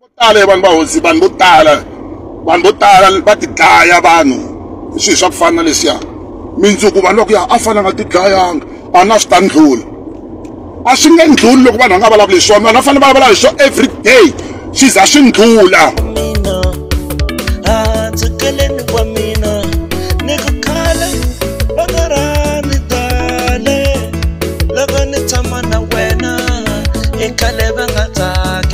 vo tala ya vanhu va hosi vanhu vo tala vanhu vo tala va tidlaya vanhu hi swilo swa ku fana na leswiya mindzuku vanhu va ku ya a fana nga tidlayanga a na swi ta ndlula a swi nge ndluli loko vanhu va nga vulavuli hi swona vanhu va fanele va vulavula hi swona every day swi za swi ndlula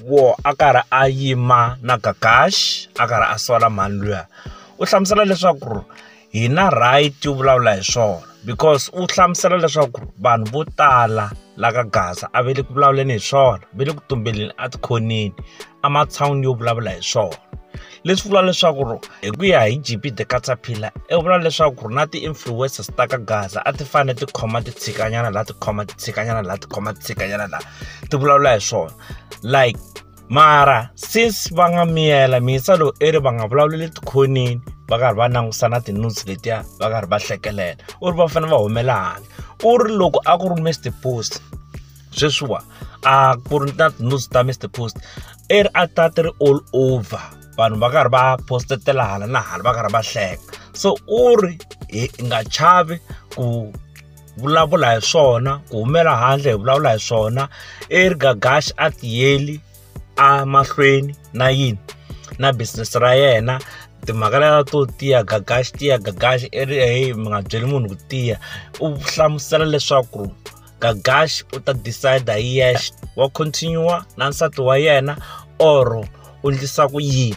Wo a karhi a yima na Gagash a karhi a sola mhani luya u hlamusela leswaku ri hi na right yo vulavula hi swona because u hlamusela leswaku vanhu vo tala la ka Gaza a ve le ku vulavuleni hi swona ve le ku tumbeleni a tikhoneni a matshan'wini yo vulavula hi swona leswi vula leswaku ri hi ku ya hi G_B the Caterpillar i vula leswaku ri na ti-influencers ta ka Gaza a ti fane ti khoma ti tshikanyana la ti khoma ti tshikanyana la ti khoma ti tshikanyana la ti vulavula hi swona. like mara since va nga miyela mintsa lowu i ri va nga vulavuleli tikhoneni va karhi va langusa na tinutsi letiya va karhi va hlekelela u ri va fanele va humela handle u ri loko a ku ri mr post sweswiwa a ku ri na tinutsi ta mr post i ri a ta ti ri all over vanhu va karhi va postetela hala na hala va karhi va hleka so u ri hi nga chavi ku vulavula hi swona ku humela handle hi vulavula hi swona Eric Gagash a tiyeli a mahlweni na yini na business ra yena timhaka leta to tiya gagaxi tiya gagaxi i ri heyi mi nga byeli munhu ku tiya u hlamusela leswaku gagaxi u ta decide hi yexe wa continue na nsati wa yena or u ndlisa ku yini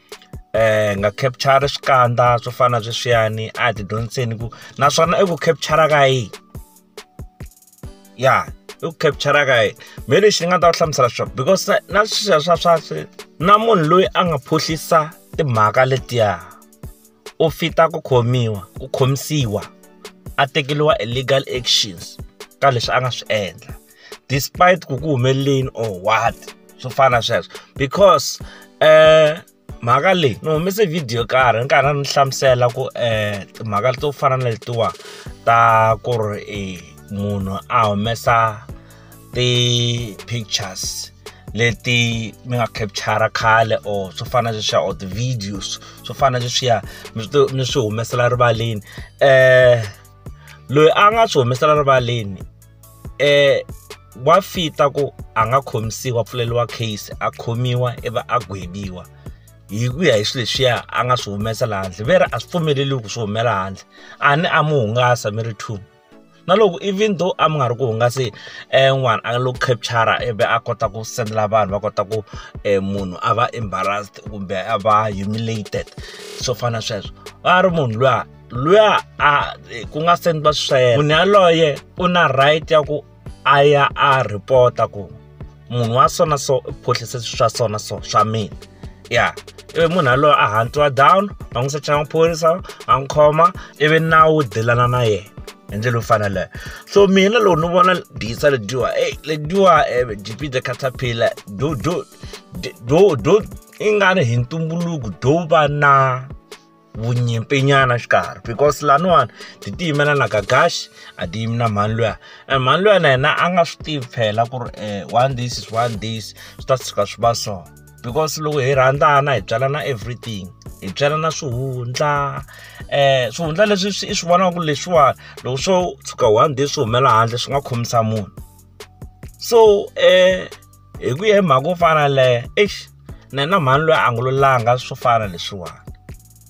hi nga capture swikandza swo fana na sweswiyani a hi ti dyondziseni ku naswona i ku capture ka yini ya i ku capture ka yini me lexi ni nga ta ku hlamusela swona because na sweswiya swa swa swi na munhu loyi a nga phuhlisa timhaka letiya. u fita ku khomiwa ku khomisiwa a tekeriwa e legal actions ka leswi a nga swi endla despite ku ku humeleleni or what swo fana sweswo because um mhaka leyi ni humese video yo karhi ni karhi ni hlamusela ku um timhaka to fana na letiwa ta ku ri munhu a humesa ti-pictures leti mi nga capture khale or swo fana na sweswiya or ti-videos swo fana na sweswiya mi mi swi humesela rivaleni um loyi a nga swi humesela rivaleni um wa fita ku a nga khomisiwa pfuleliwa case a khomiwa ivi a gwebiwa hi ku ya hi swilo leswiya a nga swi humesa laha handle ve ri a swi pfumeleliwi ku swi humela handle a ni a mi hungasa mi ri two na loko even though a mi nga ri ku hungasi um n'wana a lo capture ivi a kota ku sendela vanhu va kota ku um munhu a va embarrassed kumbe a va humiliated swo fana na sweswo a ri munhu luya luya a ku nga sendwa sweswo munhu yaloye u na right ya ku a ya a report-a ku munhu wa so na so u phuhlise swa so na so swa mina ya ivi munhu yaloye a hantiwa down va n'wi secha maphorisa a n'wi khoma ivi nawu wu dilana na yena hi ndlela yo fana leyo so mina loko ni vona disa lediwa ey lediwa um eh, gp the caterpillar do do do do i nga ri hi ntumbuluko do va na vunyimpinyana xikarhi because laniwani ti ti yimela na ka gash a ti yimi na mhani luya and mhani luya na yena a nga swi tivi phela ku ri um one this is one this swi ta tshuka swi va so because loko hi rhandzana hi byalana everything hi byalana swihundla um swihundla leswi swi i swi vonaka ku leswiwani loko swo tshuka one day swi humela handle swi nga khomisa munhu so um hi ku ya hi mhaka yo fana leyo eish na na mhani loyi a nga lulanga swo fana leswiwani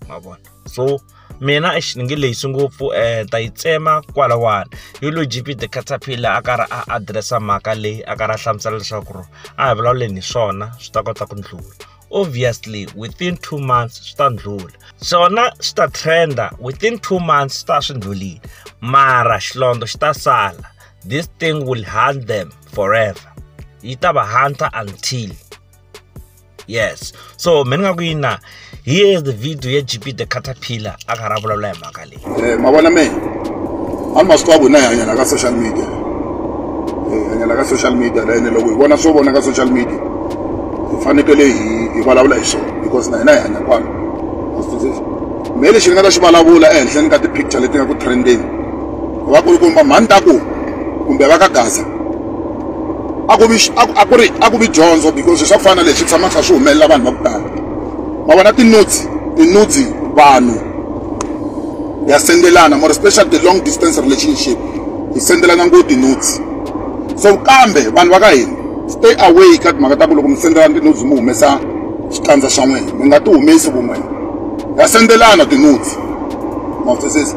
ma vona so mina eish ni nge lehisi ngopfu um ta yi tsema kwalawani hi lo gp the caterpillar a karhi a adiresa mhaka leyi a karhi a hlamusela leswaku ri a hi vulavuleni hi swona swi ta kota ku ndlula obviously within two months swi ta ndlula swona swi ta trenda within two months swi ta swi ndlulile mara xilondlo xi ta sala this thing will hunt them forever yi ta va hunter until yes so mina nga ku yina here is the video ya gp the caterpillar a karhi a vulavula hi mhaka leyi eh, mavona me a ni masiku a vona hi hanyana ka social media hi eh, hanyana ka social media la ene loko hi vona swo vona ka social media hi fanekele hi hi vulavula hi swona because na hina hi hanya kwalo mehe lexi ni nga ta xi vulavula ehenhleni ka ti-picture leti nga ku trendeni va ku komba mhani ta ku kumbe va ka gaza a ku vi a ku ri a ku vi dyondzo because swa ku fana na leswi tshama kha swi humelela vanhu va ku tala ma vona tinutsi tinutsi vanhu ya sendelana more special the long distance relationship hi sendelana ngo tinutsi so kambe vanhu va ka hina stay away ka timhaka ta ku loko mi sendelana tinutsi mi humesa xikandza xa n'wina mi nga ti humesi vun'wina ya sendelana tinutsi mawutsesesi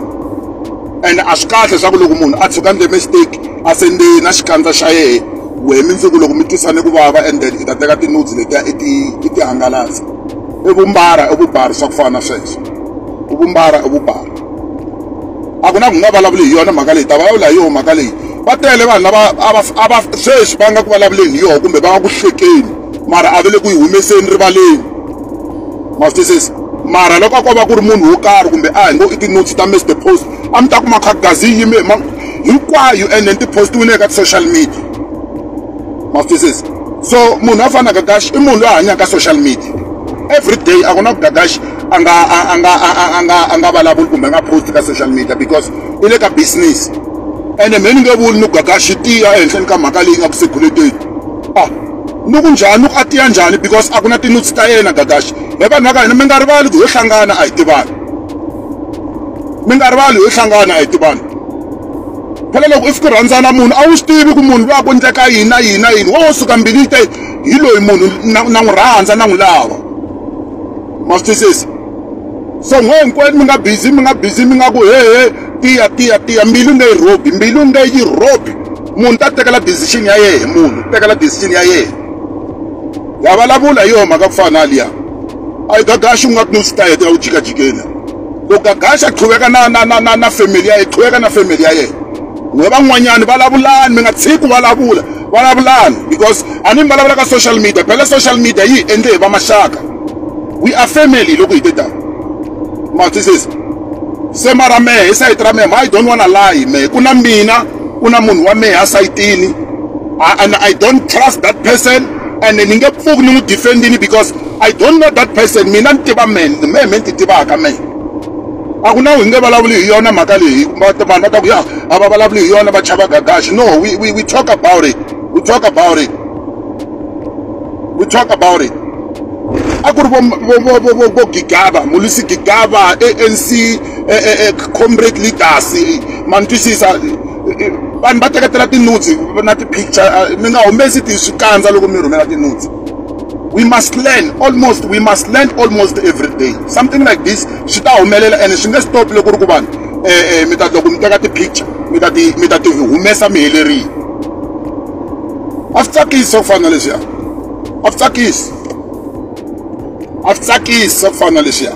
and a swi kahle swa ku loko munhu a tshuka ndle mistake a sende na xikandza xa yena wehe mindzuku loko mi twisane ku vava and then i ta teka tinodzi letiya i ti i ti hangalasa i vumbara i vubari swa ku fana na sweswo i vumbara i vubari a ku na ku nga vulavuli hi yona mhaka leyi ta vulavula hi yona mhaka leyi va tele vanhu lava a va sweswi va nga ku vulavuleni hi yona kumbe va nga ku hlekeni mara a va le ku yi humeseni rivaleni ma swi mara loko a ko va ku ri munhu wo karhi kumbe a hi ngo i ti-notes ta mr post a mi ta kuma khagazini yime hinkwayo and then ti-postiwile eka ti-social media ma swi so munhu a fana na gagaxi i munhu loyi a hanyaka social media every day a ku na ku gagaxi a nga a nga a nga a nga vulavuli kumbe a nga post ka social media because i le ka business ene me ni nge vuli ni gagaxi tiya ehenhleni ka mhaka leyi nga ku segulekeni Ah, ni ku njhani ni ku a tiya njhani because a ku na tinutsi ta yena gagaxi he vanhu va ka hina mi nga rivali ku yo hlangana a hi tivani mi nga rivali yo hlangana a hi tivani phela loko if ku rhandzana munhu a wu swi tivi ku munhu loyi a ku endleka yini na yini na yini wo suka mbilini te hi loyi munhu na n'wi rhandza na n'wi lava ma swi twisisa so ngo hinkwenu mi nga busy mi nga busy mi nga ku hehe tiya tiya tiya mbilu nge yi rhobi mbilu nge yi rhobi munhu ta tekela decision ya yehe munhu tekela decision ya yehe ya vulavula hi yona mhaka ku fana na liya a yi gagaxi u nga ku ni swi ta heta ya wu jikajikeni ku gagaxa qhuveka na na na na na family ya ye qhuveka na family ya yena we van'wanyani vulavulani mi nga tshiki ku vulavula vulavulani because a ni mi vulavula ka social media phela social media yi endle hi va maxaka we are family loko hi te tani matwisisa se mara mehe hi sayiti ra mehe ma i don't wanna lie mehe ku na mina ku na munhu wa mehe a sayitini and i don't trust that person and ni nge pfuki ni n'wi defendini because i don't know that person mina ni tiva mehe mehe me ni ti tivaka mehe a ku na hi nge vulavuli hi yona mhaka leyi vanhu va ta ku ya a va vulavuli hi yona va chava gagaxi no we, we, we talk about it we talk about it we talk about it a ku ri vo gigaba mulisi gigaba anc comrade leaders ma ni twisisa vanhu va teketela tinutsi na ti-picture mi nga humesi ti swikandza loko mi rhumela tinutsi we must learn almost we must learn almost every day something like this swi ta humelela ene swi nge stop loko ri ku vanhu um eh, eh, mi ta loko mi teka ti-picture mi ta ti mi ta ti humesa mi helerile a swi tsakisi swa ku fana na leswiya a swi tsakisi a swi tsakisi swa ku fana na leswiya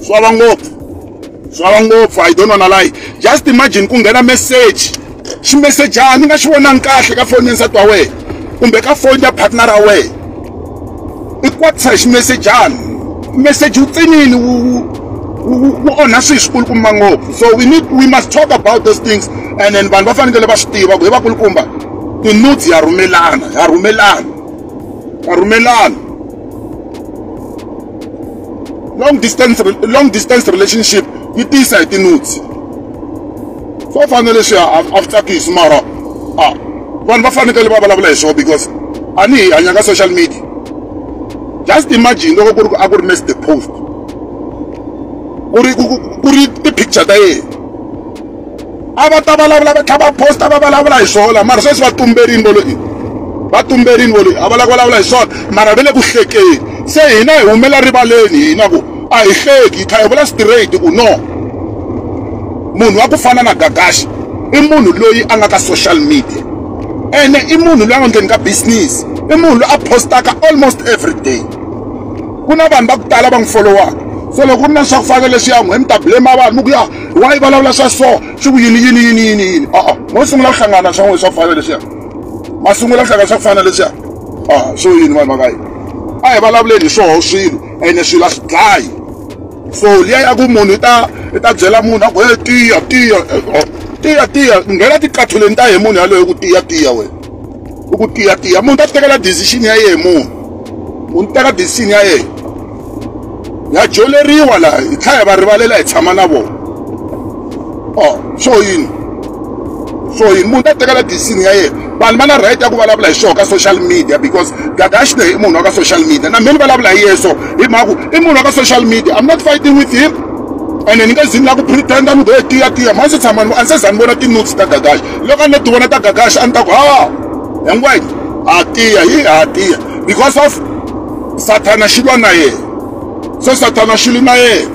swi vava ngopfu swava ngopfu i don't wanna lie just imagine ku nghena message ximesejana ni nga xi vonangi kahle ka foni ya nsati wa wena kumbe ka foni ya partner ra wena i kwatisa hi ximesejana message wu tsinini wu wu onha swilo swikulukumba ngopfu so we need we must talk about those things and then vanhu va fanekele va swi tiva ku hi vakulukumba tinutsi ya rhumelana ya rhumelana ya rhumelana long distance long distance relationship yi tiyisa hi tinutsi swo fana na leswi a swi tsakisi mara a vanhu va fanekele va vulavula hi swona because a ni hi hanya ka social media just imagine loko ku ri a ku ri next post ku ri ku ri ti-picture ta yena a va ta vulavula va tlhava posta va vulavula hi swona mara sweswi va tumberini volo i va tumberini volo a va lava ku vulavula hi swona mara ve le ku hlekeni se hina hi humela rivaleni hina ku a hi hleki hi tlha hi vula straight ku no munhu wa ku fana na gagashi i munhu loyi a nga ka social media ene i munhu loyi a nga ndleni ka business i munhu loyi a postaka almost every day ku na vanhu va ku tala va n'wi folowaka so loko ku ri na swa ku fana leswiya n'we mi ta blame vanhu mi ku ya why vulavula swa so swi ku yini yini yini yini yini a mo sungula ku hlangana swa n'we swa ku fana leswiya ma sungula ku hlangana swa ku fana leswiya a swo yini vanhu vaka yini a hi vulavuleni hi swoho swilo ene swilo a swi dlayi so liya ya ku munhu i ta i ta byela munhu a ku he tiya tiya tiya tiya nghena tikatholeni ta hi munhu yaloyo ku tiya tiya wena i ku tiya tiya munhu ta ti tekela decision ya yehe munhu u ni teka decision ya yehe ha joleriwa laha hi tlhela hi va rivalela hi tshama na vona o oh, swo yini so yini munhu ta tekela decision ya yena vanhu va na right ya ku vulavula hi swona ka social media because gagashne i munhu wa ka social media na mina ni vulavula hi yeso hi mhaku i munhu wa ka social media i'm not fighting with him ene ni nge zini la ku pretenda ni goye tiya tiya ma se tshama a ni se za ni vona ti-notes ta gagash loko a ni ti vona ta gagash a ni ta ku ha hinkwayini ha tiya hi ha tiya because of sathana xi lwa na yena so sathana xi lwi na yena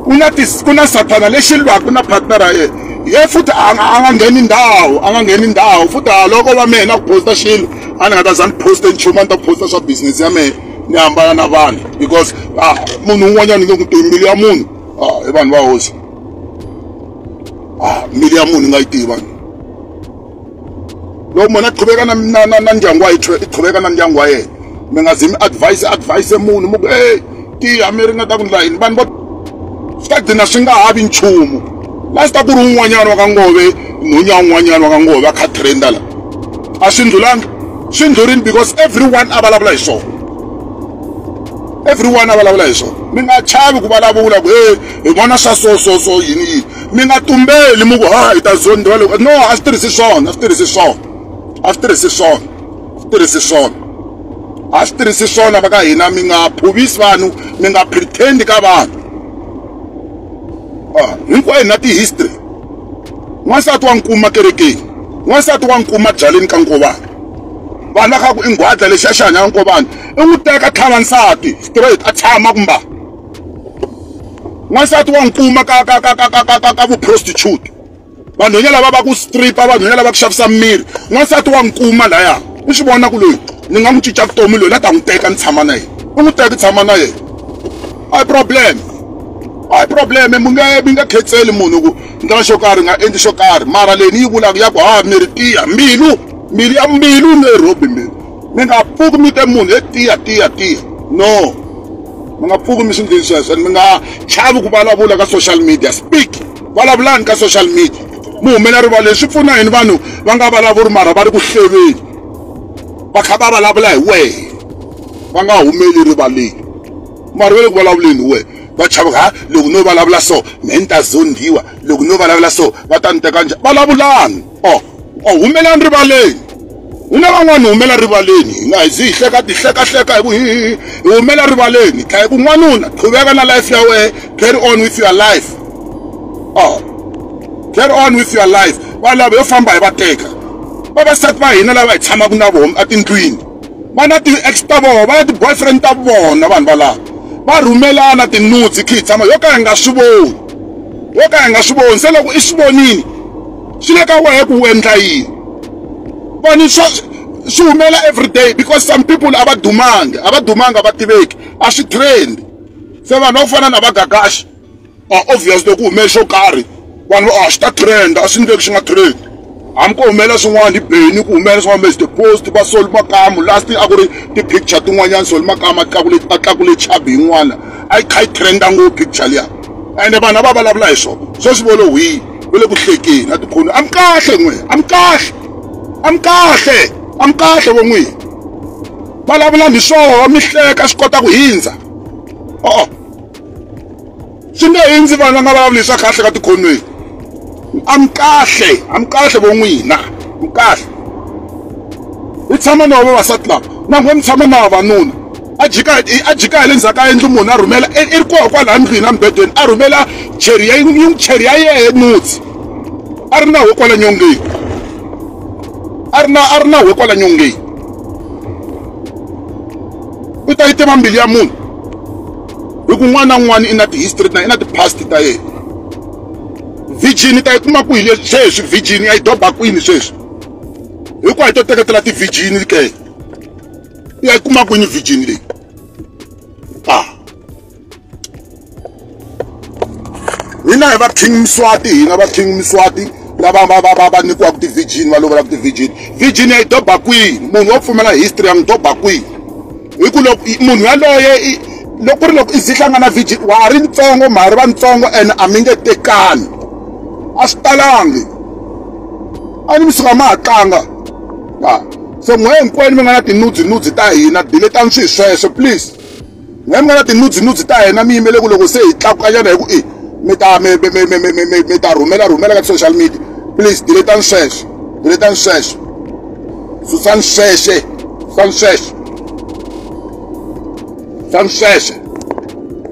ku na ku na sathana lexi lwaka na partner ra yena ye futhi a nga ngheni ndhawu a nga ngheni ndhawu futhi haloko va mehe na ku posta xilo a ni nga ta za ni poste nchumu a ni ta posta swa business ya mehe ni hambana na vanhu because ah, munhu un'wanyana ni nge ku tivi mbilu ya munhu ah, i vanhu va hosi ah, mbilu ya munhu ni nga yi tivi vanhu loko munhu a qhubeka na na na na ndyangu wa i qhubeka na ndyangu wa yena mi nga zi mi advise advise munhu mu ku ey tiya mi ringeta ku ndla yini vanhu vo swi ta gcina swi nga ha vi nchumu last a ku ri un'wanyana wa ka ngove nhonya un'wanyana wa ka ngove a kha trenda la a swi ndlulanga swi ndlurini because everyone a vulavula hi swona everyone a vulavula hi swona mi nga chavi ku vulavula ku e hi vona swa so so so yini yini mi nga tumbeli mi ku ha hi ta zondiwa loko no a swi tirhisi swona a swi tirhisi swona a swi tirhisi swona swi tirhisi swona a swi tirhisi swona va ka hina mi nga phuvisi vanhu mi nga pretend ka vanhu ah, hinkwayo na ti-history n'wansati wa nkuma kerekeni n'wansati wa nkuma byaleni ka nkovana vana ka ku i nghwadla lexi a xi hanya ka nkovana i n'wi teka tlhava nsati straight a tshama kumba n'wansati wa nkuma ka ka ka ka ka ka ka ka vuprostitute vanhwenya lava va ku stripa vanhwenya lava ku xavisa miri n'wansati wa nkuma laya u swi vona ku loyi ni nga n'wi cinca vutomi loyi la ta n'wi teka ni tshama na yena u n'wi teka tshama na yena a hi problem a hi problem mi nga mi nga khetseli munhu ku ndlela xo karhi nga endli xo karhi mara leyi ni yi vulaka ya ku ha miri tiya mbilu mbilu ya mbilu ni robi mbilu mi nga pfuki mi te munhu he tiya tiya tiya no mi nga pfuki mi swi ndlini sweswo and mi nga chavi ku vulavula ka social media speak vulavulani ka social media mi humela rivala leswi pfuna yini vanhu va nga vulavuri mara va ri ku hleveni va kha va vulavula hi wehe va nga humeli rivaleni mara va le ku vulavuleni hi wehe va chava ha loko no vulavula so me ni ta zondhiwa loko no vulavula so va ta ni teka njhani vulavulani o o humelani rivaleni hi na van'wani humela rivaleni hi nga hi zi hi hleka ti hlekahleka hi ku hi humela rivaleni hi tlhela hi ku n'wanuna qhuveka na life ya wehe carry on with your life o carry on with your life va lava yo famba hi va teka vavasati va hina lava hi tshamaka na vona etindlwini va na ti-ex ta vona va na ti-boyfriend ta vona vanhu valava va rhumelana tinutsi khi hi tshama yo ka hi nga swi voni yo ka hi nga swi voni se loko i swi vonile swi le ka wehe ku wu endla yini voni swa swi humela everyday because some people a va dumangi a va dumangi a va tiveki a swi trendi se vanhu va ku fana na vagagaxi obvious loko ku hume xo karhi vanhu va a swi ta trend a swi ndleki xi nga trend hambi ko humelela swin'wana hi beni ku humelela swin'wana mase post va soli makamu last a ku ri ti-picture tin'wanyana soli makamu a tlakule a tlakule chabi yin'wana a yi kha yi trenda ngopfu picture liya ende vanhu a va vulavula hi swona sweswi volo hwini u le ku hlekeni a tikhoni a mi kahle n'we a mi kahle a mi kahle a mi kahle vo n'wini vulavula mi swoho mi hleka swi kota ku hindza o swi nge hindzi vanhu va nga vulavuli swa kahle ka tikhonweni a mi kahle a mi kahle vo n'wina mi kahle hi tshama na vavasati lava na n'we mi tshama na vavanuna A jika, a jika hi le ndzhaku ka yindlu munhu a rhumela, i ri koho kwalaya ndlwini embedweni, a rhumela cheri ya yin'we, cheri ya yehe nutsi. A ri na hwe kwala nyongeni. A ri na, a ri na hwe kwala nyongeni. U ta yi tiva mbilu ya munhu. Hi ku n'wana na n'wana i na ti-history ta, i na ti-past ta yena. Virgin i ta yi kuma kwihi sweswi virgin, ya yi doba kwini sweswi? Hinkwayo hi to teketela ti-virgin ke. ya yi kuma kwini virgin leyi a hina hi va king miswati hina va king miswati lava va va va va nyikiwaka ti-virgin va lovelaka ti-virgin virgin ya yi doba kwihi munhu wo pfumela history ya n'wi doba kwihi hi ku loko munhu yaloye loko ku ri loko i ze hlangana virgin wa ha ri ntsongo ma ha ri vantsongo ene a mi nge tekani a swi talangi a ni mi suka ma ha tlanga Ah, so n'we hinkwenu mi nga na tinudzinudzi ta hina diletani swi sweswo please n'we mi nga na tinudzinudzi ta hina mi yimele ku loko se hi tlakukanyana hi ku i mi ta mi ta rhumela rhumela ka ti-social media please diletani sweswo diletani sweswo susani sweswe susani sweswo susani sweswe